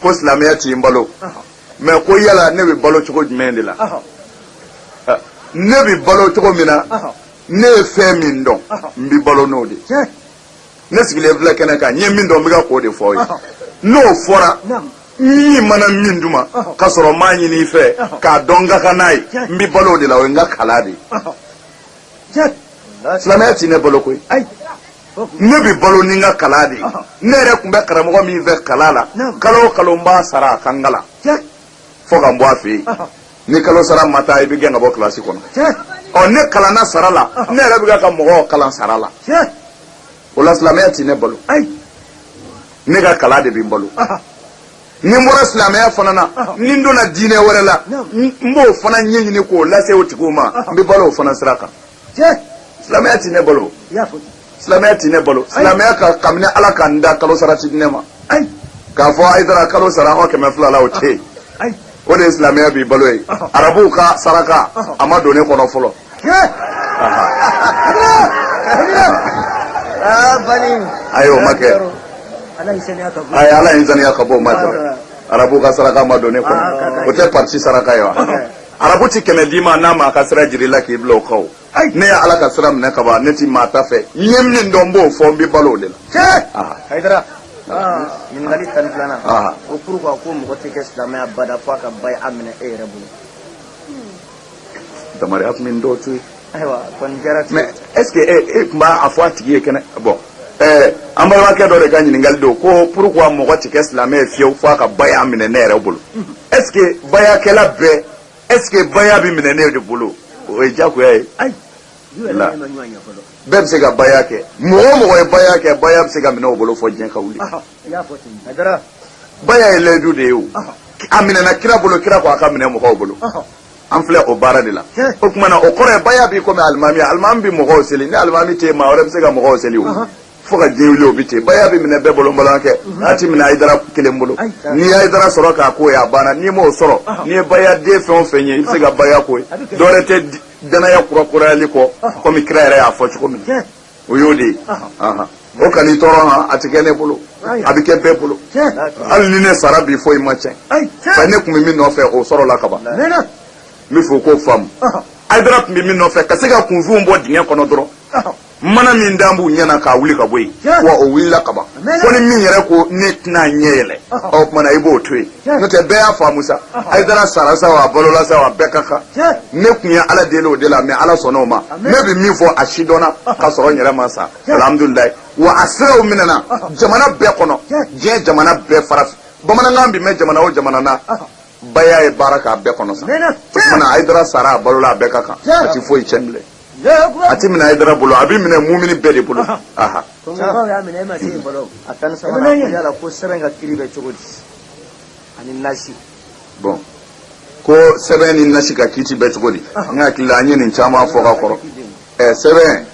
ko silamɛya ti n balo mɛ ko yala ne bɛ balo cogo jumɛn de la ne bɛ balo cogo min na ne ye fɛn min dɔn n bɛ balo n'o de ne sigilen filɛ kɛnɛ kan n ye min dɔn n bɛ ka k'o de fɔ aw ye n'o fɔra i mana min di n ma ka sɔrɔ n m'a ɲini i fɛ k'a dɔn n ka kan n'a ye n bɛ balo o de la o ye n ka kalan de ye silamɛya ti ne balo koyi ne bɛ balo ni n ka kalan de ye ne yɛrɛ tun bɛ karamɔgɔ min fɛ kalan na kalo o kalo n b'a sara a ka n kalan fo ka n bɔ a fɛ yen ni kalo sara ma taa i bɛ gɛn ka bɔ kilasi kɔnɔ ɔ ne kalanna sara la ne yɛrɛ bɛ ka mɔgɔw kalan sara la o la silamɛya ti ne balo ne ka kalan de bɛ n balo ni n bɔra silamɛya fana na ni n donna diinɛ wɛrɛ la n b'o fana ɲɛɲini k'o lase o tigiw ma n bɛ balo o fana sira kan silamɛya tɛ ne balo silamɛya tɛ ne balo silamɛya ka kabini ala ka n da kalo sara ti di ne ma k'a fɔ ayidara kalo sara an kɛmɛ fila la o tɛ yen o de ye silamɛya b'i balo ye arabuw ka saraka a ma don ne kɔnɔ fɔlɔ ayi o ma kɛ ala ye n saniya ka bɔ o ma kɛ arabu ka saraka ma don ne kɔnɔ o tɛ parti saraka ye wa arabu ti kɛmɛ d'i ma n'a ma a ka sira jir'i la k'i bila o kan ne ye ala ka sira minɛ kaban ne ti maa ta fɛ n ye min dɔn n b'o fɔ n bɛ balo o de la hayidara ɲininkali tan ni filanan ko pourquoi ko mɔgɔ tɛ kɛ silamɛ ye abada fo a ka baya minɛ e yɛrɛ bolo damaruya tun bɛ dɔw to yen mɛ est ce que e, e tun b'a fɔ a tigi ye kɛnɛ bon ɛɛ an balimakɛ dɔ de ka ɲininkali don ko pourquoi mɔgɔ tɛ kɛ silamɛ ye fiyewu f'a ka baya minɛ ne yɛrɛ bolo est ce que bayakɛla bɛɛ est ce que baya bɛ minɛ ne de bolo o ye diyagoya ye ayi la bɛɛ bɛ se ka baya kɛ mɔgɔ o mɔgɔ ye baya kɛ baya bɛ se ka minɛ o bolo fɔ diɲɛ ka wuli baya ye layidu de ye o a minɛna kira bolo kira ko a ka minɛ mɔgɔw bolo an filɛ o baara de la o tuma na o kɔrɔ ye baya b'i komi alimami alimami bɛ mɔgɔw seli ni alimami tɛ maa wɛrɛ bɛ se ka mɔgɔw seli o fo ka diɲɛ wuli o bɛ ten baya bɛ minɛ bɛɛ bolo n balimakɛ a ti minɛ ayidara kelen bolo n'i ayidara sɔrɔ k'a k'o ye a banna n'i m'o sɔrɔ n'i ye baya den fɛn o fɛn ye i bɛ se ka baya k'o ye dɔwɛrɛ tɛ danaya kura kurayali kɔ komi kira yɛrɛ y'a fɔ cogo min o y'o de ye o kan'i tɔɔrɔ han a ti kɛ ne bolo a bɛ kɛ bɛɛ bolo hali ni ne sara bi foyi ma tiɲɛ fɛn ne tun bɛ min nɔfɛ o sɔrɔla kaban n bɛ fɛ o k'o faamu ayidara tun bɛ min nɔfɛ ka se ka kunfinw bɔ dingɛ kɔnɔ dɔrɔn mana min dan b'u ɲɛ na k'a wuli ka bɔ yen wa o wulila kaban fo ni min yɛrɛ ko ne tɛna ɲɛ yɛlɛ o tuma na i b'o to yen n'o tɛ bɛɛ y'a faamu sa ayidara sara sa wa a balola sa wa bɛɛ ka kan ne tun ye ala deli o de la mɛ ala sɔnna o ma ne bɛ min fɔ a si dɔnna ka sɔrɔ n yɛrɛ ma sa alhamdulilayi wa a siraw minɛna jamana bɛɛ kɔnɔ diɲɛ jamana bɛɛ farafin bamanankan bɛ mɛn jamana o jamana na baya ye baara k'a bɛɛ kɔnɔ sa o tuma na ayidara sara a balola a bɛɛ ka kan a tɛ foyi tiɲɛ bilen a tɛ minɛ Ayidara bolo a bɛ minɛ mumini bɛɛ de bolo bon ko sɛbɛn ni nasi ka kiiti bɛ cogo di n hakili la an ye nin caman fɔ ka kɔrɔ sɛbɛn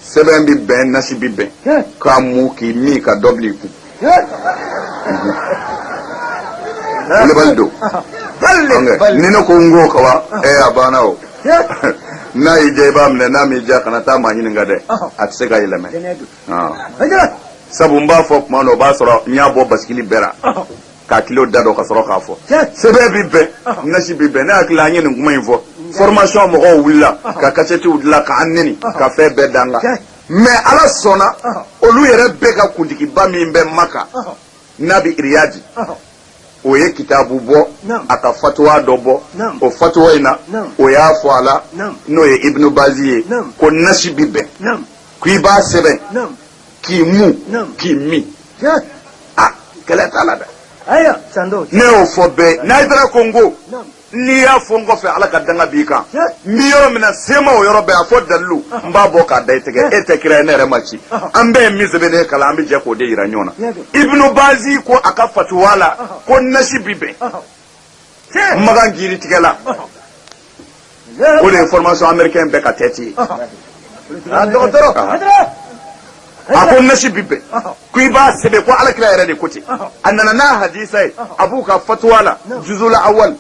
sɛbɛn bɛ bɛn nasi bɛ bɛn k'a mu k'i min ka dɔ bil'i kun kulubali don ni ne ko n ko ka wa ɛ a banna o n'a y'i diya i b'a minɛ n'a m'i diya kana taa maa ɲininka dɛ a tɛ se ka yɛlɛmɛ sabu n b'a fɔ tuma dɔ o b'a sɔrɔ n y'a bɔ basikili bɛɛ la k'a kilo da dɔn ka sɔrɔ k'a fɔ sɛbɛn bi bɛn nasi bi bɛn ne hakili la an ye nin kuma in fɔ formation mɔgɔw wulila ka kasɛtiw dilan k'an neni ka fɛn bɛɛ d'an kan mais ala sɔnna olu yɛrɛ bɛɛ ka kuntigiba min bɛ maka n'a bɛ iriyadi o ye kitabu bɔ a ka fatuwa dɔ bɔ o fatuwa in na o y'a fɔ a la n'o ye ibnu bazi ye ko nasi bi bɛn k'i b'a sɛbɛn k'i mu k'i min a kɛlɛ t'a la dɛ ne y'o fɔ bɛɛ n'i taara ko n ko n'i y'a fɔ n kɔfɛ ala ka danga b'i kan n bɛ yɔrɔ min na se n ma o yɔrɔ bɛɛ a fɔ dalilu n b'a bɔ k'a da i tɛgɛ e tɛ kira ye ne yɛrɛ ma ci an bɛɛ ye min sɛbɛnnen kalan an bɛ jɛ k'o de yira ɲɔgɔn na ibnu bazi ko a ka fatuwa la ko nasi bi bɛn makan jiri tigɛ la o de ye formation américain bɛɛ ka tête ye dɔgɔtɔrɔ a ko nasi bi bɛn ko i b'a sɛbɛn ko alakira yɛrɛ de ko ten a nana n'a hadisa ye a b'u ka fatuwa la juzula awal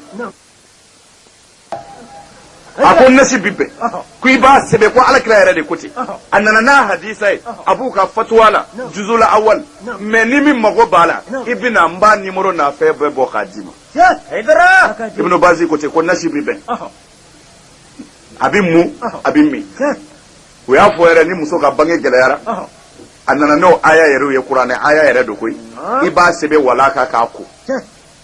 a ko nasi bi bɛn ko i b'a sɛbɛn ko alakira yɛrɛ de ko ten a nana n'a hadisa ye a b'u ka fatuwa la juzula awal mais ni min mago b'a la i bɛ na n b'a numéro n'a fɛn bɛɛ bɔ k'a d'i ma ibnu bazi ko ten ko nasi bi bɛn a bɛ mun a bɛ min o y'a fɔ yɛrɛ ni muso ka bange gɛlɛyara a nana n'o aya yɛrɛ ye kuranɛ aya yɛrɛ don koyi i b'a sɛbɛn wala kan k'a ko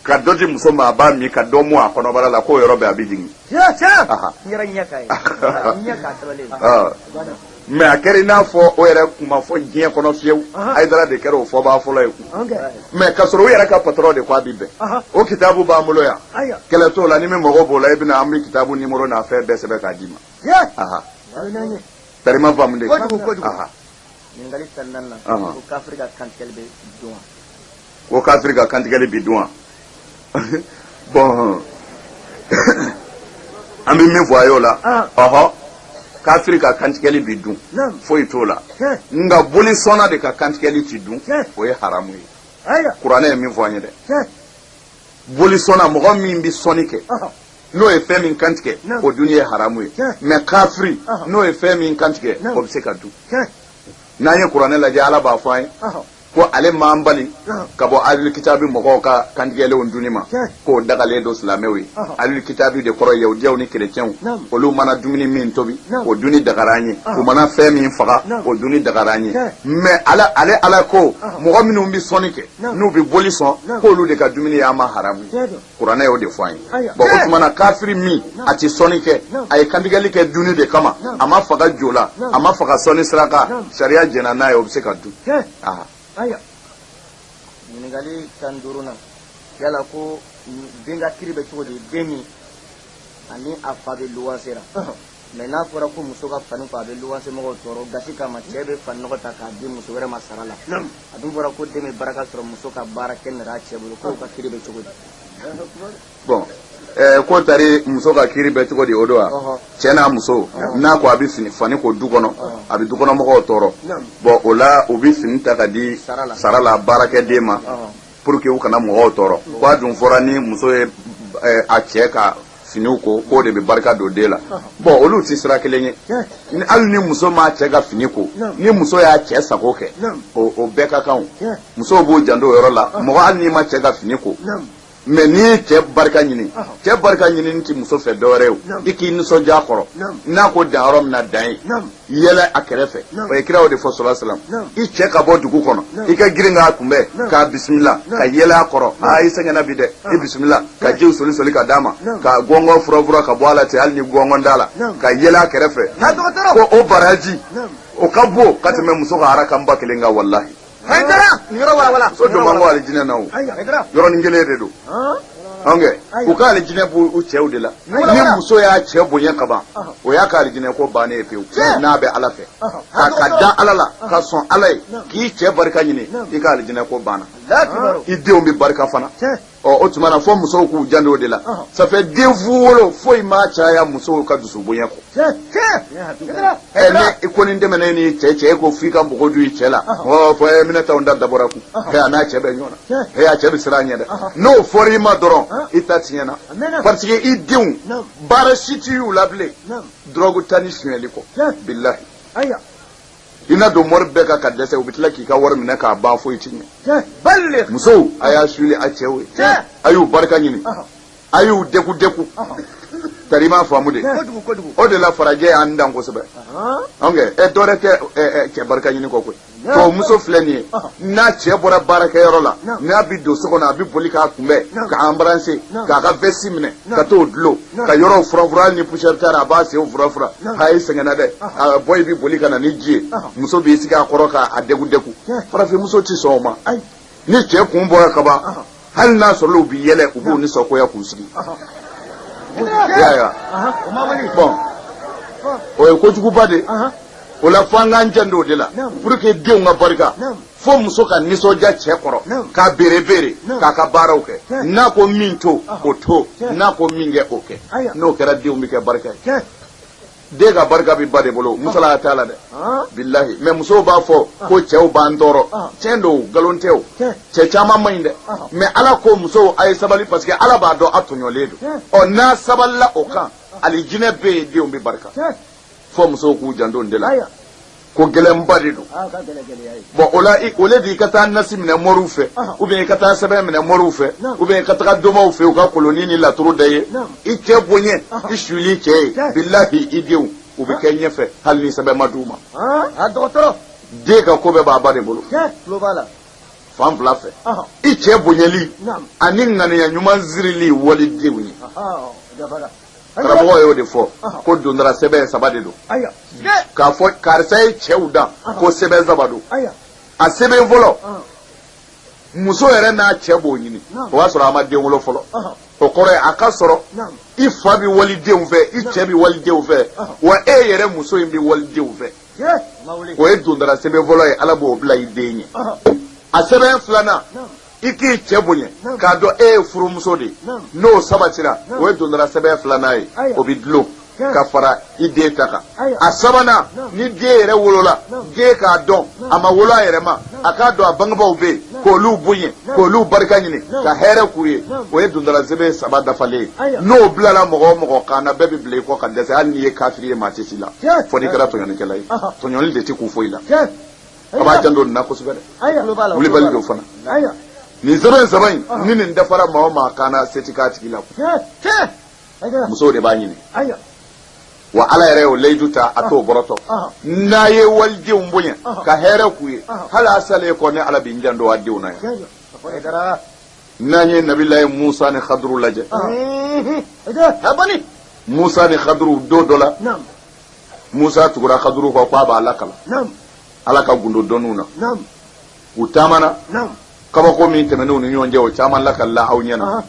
ka dɔ di muso ma a b'a min ka dɔ mu a kɔnɔbara la k'o yɔrɔ bɛɛ a bɛ jigin mais a kɛra i n'a fɔ o yɛrɛ kun ma fɔ diɲɛ kɔnɔ fiyewu hayidara de kɛra o fɔbaa fɔlɔ ye mais ka sɔrɔ u yɛrɛ ka patron de ko a bi bɛn o kitabu b'an bolo yan kɛlɛ t'o la ni min mago b'o la i bɛ na an bɛ kitabu numéro n'a fɛn bɛɛ sɛbɛn k'a d'i ma terima faamu ko kafiri ka kantigɛli bi dun wa bon an bɛ min fɔ a y'o la ah. ɔhɔ kafiri ka kantigɛli bi dun foyi t'o la nka boli sɔnna de ka kantigɛli ti dun o ye haramu ye kuranɛ ye min fɔ an ye dɛ boli sɔnna mɔgɔ min bɛ sɔnni kɛ n'o ye fɛn min kantigɛ o dun ye haramu ye mais kafiri n'o ye fɛn min kantigɛ o bɛ se ka dun n'an ye kuranɛ lajɛ ala b'a fɔ an ye ko ale m'an bali ka bɔ alil kitabi mɔgɔw ka kantigɛlenw dunni ma k'o dagalen don silamɛw ye alil kitabi de kɔrɔ yahudiyaw ni kerecɛnw olu mana dumuni min tobi o dunni dagara an ye u mana fɛn min faga o dunni dagara an ye mais ale ala ko mɔgɔ minnu bɛ sɔnni kɛ n'u bɛ boli sɔn k'olu de ka dumuni ye an ma haramu kuranɛ y'o de fɔ an ye bɔn o tuma na kafiri min a tɛ sɔnni kɛ a ye kantigɛli kɛ dunni de kama a ma faga jo la a ma faga sɔnni siraka sariya jɛnna n'a ye o bɛ se ka dun ɲininkali tan ni duurunan yala ko den ka kiri bɛ cogo di den min ani a fa bɛ luwanse la mɛ n'a fɔra ko muso ka fani ko a bɛ luwansemɔgɔw tɔɔrɔ gasi kama cɛ bɛ faninɔgɔ ta k'a di muso wɛrɛ ma sara la a dun fɔra ko den bɛ baraka sɔrɔ muso ka baara kɛ nɛrɛ a cɛ bolo k'o ka kiri bɛ cogo di bɔn eh, ko tari muso ka kiri bɛ cogo di o don wa cɛ n'a muso n'a ko a bɛ fani ko du kɔnɔ a bɛ dukɔnɔmɔgɔw tɔɔrɔ bɔn o la u bɛ fini ta ka di sara la baarakɛden ma pour que u kana mɔgɔw tɔɔrɔ ko a dun fɔra ni muso ye eh, a cɛ ka finiw ko k'o de bɛ barika don den la bɔn olu tɛ sira kelen ye hali ni muso m'a cɛ ka fini ko ni muso y'a cɛ sago kɛ o bɛɛ ka kan musow b'u janto o yɔrɔ la mɔgɔ hali n'i ma cɛ ka fini ko mɛ n'i ye cɛ barika ɲini cɛ barika ɲini tɛ muso fɛ dɔwɛrɛ ye i k'i nisɔndiya kɔrɔ n'a ko dan yɔrɔ min na dan yen yɛlɛ a kɛrɛfɛ o ye kira o de fɔ salayi salam i cɛ ka bɔ dugu kɔnɔ i ka girin k'a kunbɛn k'a bisimila ka yɛlɛ a kɔrɔ aa i sɛgɛnna bi dɛ i bisimila ka jiw soli soli ka d'a ma ka gɔngɔn furafura ka bɔ a la ten hali ni gɔngɔn t'a la ka yɛlɛ a kɛrɛfɛ ko o baraji o ka bon ka tɛmɛ muso ka harakan ba kelen kan walahi so don man go alijinɛ na o yɔrɔnin kelen de don ange u ka alijinɛ b'u cɛw de la ni muso y'a cɛ bonya ka ban o y'a ka alijinɛ ko bannen ye pewu n'a bɛ ala fɛ ka ka da ala la ka sɔn ala ye k'i cɛ barika ɲini i ka alijinɛ ko banna i denw bɛ barika fana ɔ o tuma na fo musow k'u janto o de la ça fait den fu wolo foyi m'a caya musow ka dusu bonya kɔ ɛ ne i kɔni dɛmɛna ni cɛ cɛ e ko f'i ka mɔgɔ du i cɛ la ɔ fɔ ɛ minɛ t'anw da dabɔra kun ɛ a n'a cɛ bɛ ɲɔgɔn na ɛ a cɛ bɛ siran ɲɛ dɛ n'o fɔra i ma dɔrɔn i ta tiɲɛna parce que i denw baara si ti u la bilen dɔrɔgu ta ni sonyɛli kɔ bilahi i na don mori bɛɛ kan ka dɛsɛ u bɛ tila k'i ka wari minɛ k'a ban foyi ti ɲɛ musow a y'a suuli a cɛw ye a y'u barika ɲini a y'u deku deku tari i m'a faamu de o de la farajɛ y'an dan kosɛbɛ anw kɛ ɛ dɔwɛrɛ tɛ cɛ barika ɲini kɔ koyi tubabu muso filɛ nin ye n'a cɛ bɔra baarakɛyɔrɔ la n'a bi don so kɔnɔ a bi boli k'a kunbɛn k'a embrasser k'a ka vɛsi minɛ ka t'o dulon ka yɔrɔw furafura hali ni poussière taara a b'a senw furafura a i sɛgɛnna dɛ a bɔyi bi boli ka na ni ji ye muso b'i sigi a kɔrɔ k'a degu degu farafinmuso tɛ sɔn o ma ni cɛ kun bɔra ka ban hali n'a sɔrɔ u bi yɛlɛ u b'u nisɔngoya k'u sigi i y'a ye wa bɔn o ye kojuguba de ye o la f'an k'an janto o de la pour que denw ka barika fo muso ka nisɔndiya cɛ kɔrɔ k'a berebere k'a ka baaraw kɛ n'a ko min to o to n'a ko min kɛ o kɛ n'o kɛra denw bɛ kɛ barika ye den ka barika bɛ ba de bolo musalaha t'a la dɛ bilahi mais musow b'a fɔ ko cɛw b'an tɔɔrɔ tiɲɛ don nkalon tɛ o cɛ caman man ɲi dɛ mais ala ko musow a ye sabali parce que ala b'a dɔn a tɔɲɔlen don ɔ n'a sabalila o kan alijinɛ bɛ yen denw bɛ barika fo musow k'u janto o de la ko gɛlɛnba de don bɔn o la au lieu de i ka taa nasi minɛ moriw fɛ ou bien i ka taa sɛbɛn minɛ moriw fɛ ou bien i ka taga domaw fɛ u ka kolonin ni laturu da ye i cɛ bonya i suli cɛ ye bilahi i denw u bɛ kɛ ɲɛfɛ hali ni sɛbɛn ma di u ma den ka ko bɛɛ b'a ba de bolo fan fila fɛ i cɛ bonyali ani ŋaniya ɲuman sirili walidenw ye karamɔgɔ y'o de fɔ ko dondara sɛbɛn saba de don k'a fɔ karisa ye cɛw dan ko sɛbɛn saba don a sɛbɛn fɔlɔ muso yɛrɛ n'a cɛ b'o ɲini o b'a sɔrɔ a ma den wolo fɔlɔ o kɔrɔ ye a ka sɔrɔ i fa bɛ walidenw fɛ i cɛ bɛ walidenw fɛ wa e yɛrɛ muso in bɛ walidenw fɛ o ye dondara sɛbɛn fɔlɔ ye ala b'o bila i den ye a sɛbɛn filanan i k'i cɛ bonya k'a dɔn e ye furumuso de ye n'o sabatira o ye dondara sɛbɛn filanan ye o bɛ dulon ka fara i den ta kan a sabanan ni den yɛrɛ wolola den k'a dɔn a ma wolo a yɛrɛ ma a k'a dɔn a bangebaaw bɛ yen k'olu bonya k'olu barika ɲini ka hɛrɛ k'u ye o ye dondara sɛbɛn saba dafalen ye n'o bilala mɔgɔ o mɔgɔ kan na bɛɛ bɛ bila i kɔ ka dɛsɛ hali n'i ye kafiri ye maa tɛ s'i la fo n'i kɛra tɔɲɔlikɛla ye tɔɲɔli de tɛ kun foyi la a b'a janto nin na kosɛbɛ dɛ wulibali don fana nin sɛbɛn saba in ni nin dafara maa o maa kan na se ti k'a tigi la musow de b'a ɲini wa ala yɛrɛ y'o layidu ta a t'o bɔrɔtɔ n'a ye walidenw bonya ka hɛrɛ k'u ye hali a salen kɔ ne ala bɛ n janto a denw na yan n'an ye nabiyulahi musa ni khaduru lajɛ musa ni khaduru don dɔ la musa tugura kaduru kɔ k'a b'a lakalan ala ka gundo dɔnniw na u taamana kabako min tɛmɛn'u ni ɲɔgɔn cɛ o caman lakalila aw ɲɛna ah,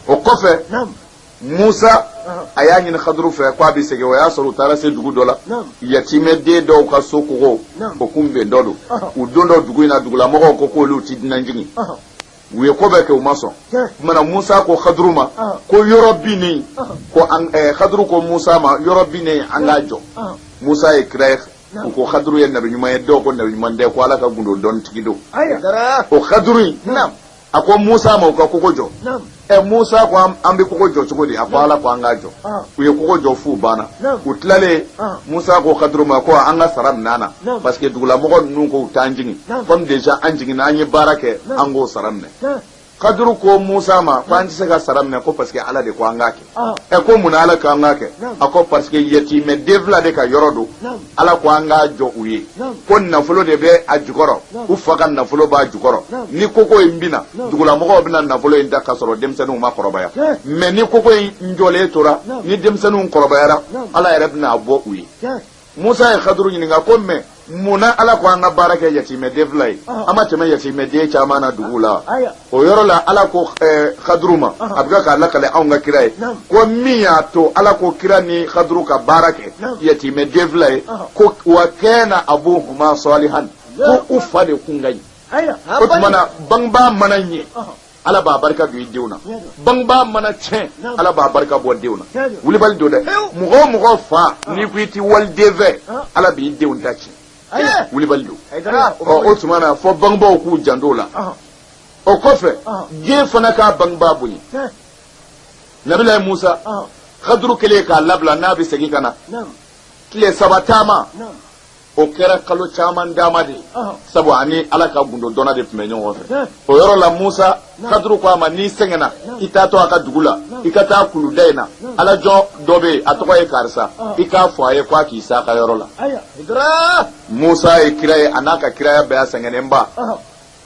o kɔfɛ musa a y'a ɲini kaduru fɛ k'a bɛ segin o y'a sɔrɔ u taara se dugu dɔ la yatimɛ den dɔw ka so kogo o kun bintɔ don u dontɔ dugu in na dugulamɔgɔw ko k'olu tɛ dunan jigin u ye ko bɛɛ kɛ u ma sɔn tuma na musa ko kaduru ma ko yɔrɔ binnen ko eh, kaduru ko musa ma yɔrɔ binnen an k'a jɔ musa ye kira ye u ko kaduru ye nabi ɲuman ye dɔw ko nabi ɲuman tɛ ko ala ka gundo dɔn tigi don o kaduru in a ko musa ma u ka kogo jɔ ɛ eh, musa ko an bɛ kogo jɔ cogo di a ko ala ko an k'a jɔ u ye kogo jɔ f'u banna u tilalen musa ko kaduru ma ko an ka sara minɛ a na parce que dugulamɔgɔ ninnu ko u t'an jigin comme déjà an jiginna an ye baara kɛ an k'o sara minɛ kaduru ko musa ma ko an tɛ se ka sara minɛ ko parce que ala de ko an k'a kɛ ɛ ko mun na ala ko an k'a kɛ a ko parce que yatimɛ den fila de ka yɔrɔ don ala ko an k'a jɔ u ye ko nafolo de bɛ a jukɔrɔ u fa ka nafolo b'a jukɔrɔ ni kogo in binna dugulamɔgɔw bɛna nafolo in ta ka sɔrɔ denmisɛnninw ma kɔrɔbaya mais ni kogo in jɔlen tora ni denmisɛnninw kɔrɔbayara ala yɛrɛ bɛna a bɔ u ye musa ye kaduru ɲininka ko mais mun na ala ko an ka baara kɛ yatimɛden fila ye an ma tɛmɛ yatimɛden caman na dugu la o yɔrɔ la ala ko eh, kaduru ma a bɛ k'a lakale anw ka kira ye ko min y'a to ala ko kira ni kaduru ka baara kɛ yatimɛ den fila ye ko wa kana abuhuma salihan ko u fa de kun ka ɲi o tuma na bangebaa mana ɲɛ ala b'a barika don i denw na bangebaa mana tiɲɛ ala b'a barika bɔ denw na wulibali don dɛ mɔgɔ o mɔgɔ fa n'i ko i tɛ waliden fɛ ala b'i denw ta tiɲɛ wulibali don o tuma na fo bangebaaw k'u janto o la o kɔfɛ den fana k'a bangebaa bonya nabilayi musa kaduru kɛlen k'a labila n'a bɛ segin ka na tile saba taama o kɛra kalo caman taama de ye sabu a ni ala ka gundo dɔnna de tun bɛ ɲɔgɔn fɛ o yɔrɔ la musa kaduru ko a ma n'i sɛgɛnna i taatɔ a ka dugu la i ka taa kuluda in na alajɔn dɔ bɛ yen a tɔgɔ ye karisa i k'a fɔ a ye ko a k'i se a ka yɔrɔ la musa ye kira ye a n'a ka kiraya bɛɛ a sɛgɛnnenba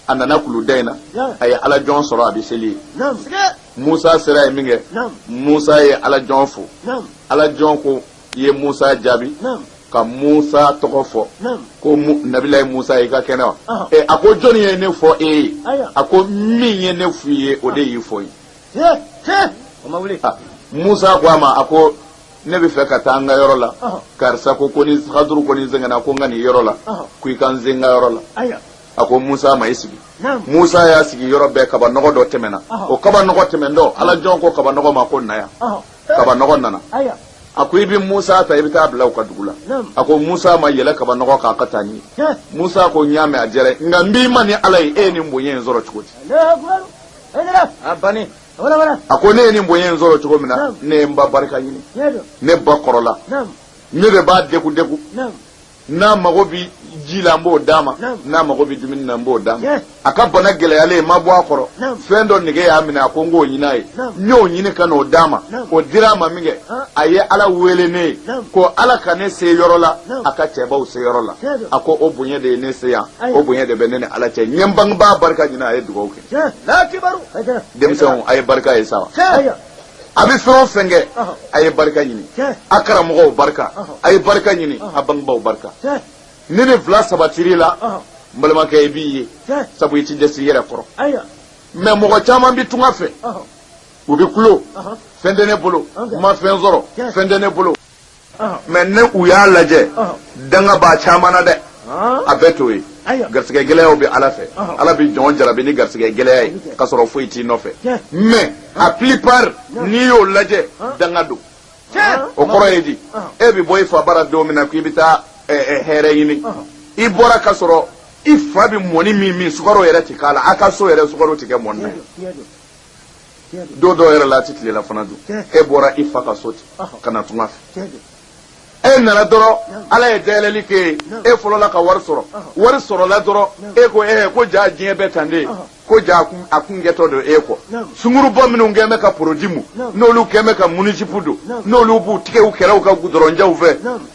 a nana kuluda in na a ye alajɔn sɔrɔ a bɛ seli yen musa sera yen min kɛ musa ye alajɔn fo alajɔn ko i ye musa jaabi ka musa tɔgɔ fɔ ko nabilayi musa i ka kɛnɛ wa a ko jɔnni ye ne fɔ e ye a ko min ye ne f'i ye o de y'i fɔ n ye musa ko a ma a ko ne bɛ fɛ ka taa an ka yɔrɔ la karisa ko ko ni kaduru ko ni n sɛgɛnna ko n ka n'i yɔrɔ la ko i ka n se n ka yɔrɔ la a ko musa ma i sigi musa y'a sigi yɔrɔ bɛɛ kabanɔgɔ dɔ tɛmɛna o kabanɔgɔ tɛmɛntɔ alajɔn ko kabanɔgɔ ma ko na yan kabanɔgɔ nana a ko i bɛ musa ta i bɛ t'a bila u ka dugu la a ko musa ma yɛlɛ kabanɔgɔ kan a ka taa n'i ye musa ko n y'a mɛn a diyara nka n b'i ma ni ala ye e ye nin bonya in sɔrɔ cogo di a ko ne ye nin bonya in sɔrɔ cogo min na ne ye n ba barika ɲini ne ba kɔrɔla ne de b'a degun degun n'a mago bɛ ji la n b'o d'a ma n'a mago bɛ dumuni na n b'o d'a ma a ka bana gɛlɛyalen n ma bɔ a kɔrɔ fɛn dɔ nege y'a minɛ a ko n k'o ɲini a ye n y'o ɲini ka n'o d'a ma o dira a ma min kɛ a ye ala wele ne ye ko ala ka ne se yɔrɔ la a ka cɛbaw se yɔrɔ la a ko o bonya de ye ne se yan o bonya de bɛ ne ni ala cɛ n ye n bangebaa barika ɲini a ye dugawu kɛ denmisɛnw a ye barika ye sa wa a bɛ fɛn o fɛn kɛ a ye barika ɲini a karamɔgɔw barika a ye barika ɲini a bangebaaw barika ni nin fila sabatir'i la n balimakɛ i b'i ye sabu i tɛ dɛsɛ i yɛrɛ kɔrɔ mais mɔgɔ caman bɛ tunga fɛ u bɛ kulo fɛn tɛ ne bolo n ma fɛn sɔrɔ fɛn tɛ ne bolo mais n'aw y'a lajɛ danga b'a caman na dɛ a bɛɛ t'o ye garisɛgɛ gɛlɛyaw bɛ ala fɛ ala bɛ jɔn jarabi ni garisɛgɛ gɛlɛya ye ka sɔrɔ foyi t'i nɔfɛ mais a plupart n'i y'o lajɛ danga don o kɔrɔ ye di e bɛ bɔ i fa bara don min na k'i bɛ taa hɛrɛ ɲini i bɔra ka sɔrɔ i fa bɛ mɔni min min sukaro yɛrɛ tɛ k'a la a ka so yɛrɛ sukaro tɛ kɛ mɔni na don dɔw yɛrɛ la a tɛ tilela fana dun e bɔra i fa ka so ten ka na tunga fɛ e nana dɔrɔn ala ye dayɛlɛli k'e ye e fɔlɔla ka wari sɔrɔ wari sɔrɔla dɔrɔn e ko e ko jaa diɲɛ bɛ tan de ko jaa a kun kɛtɔ don e ko sunkurubaw minnu kɛn bɛ ka produit mu n'olu kɛn bɛ ka minijupe don n'olu b'u tigɛ u kɛlɛw ka dɔrɔnjanw fɛ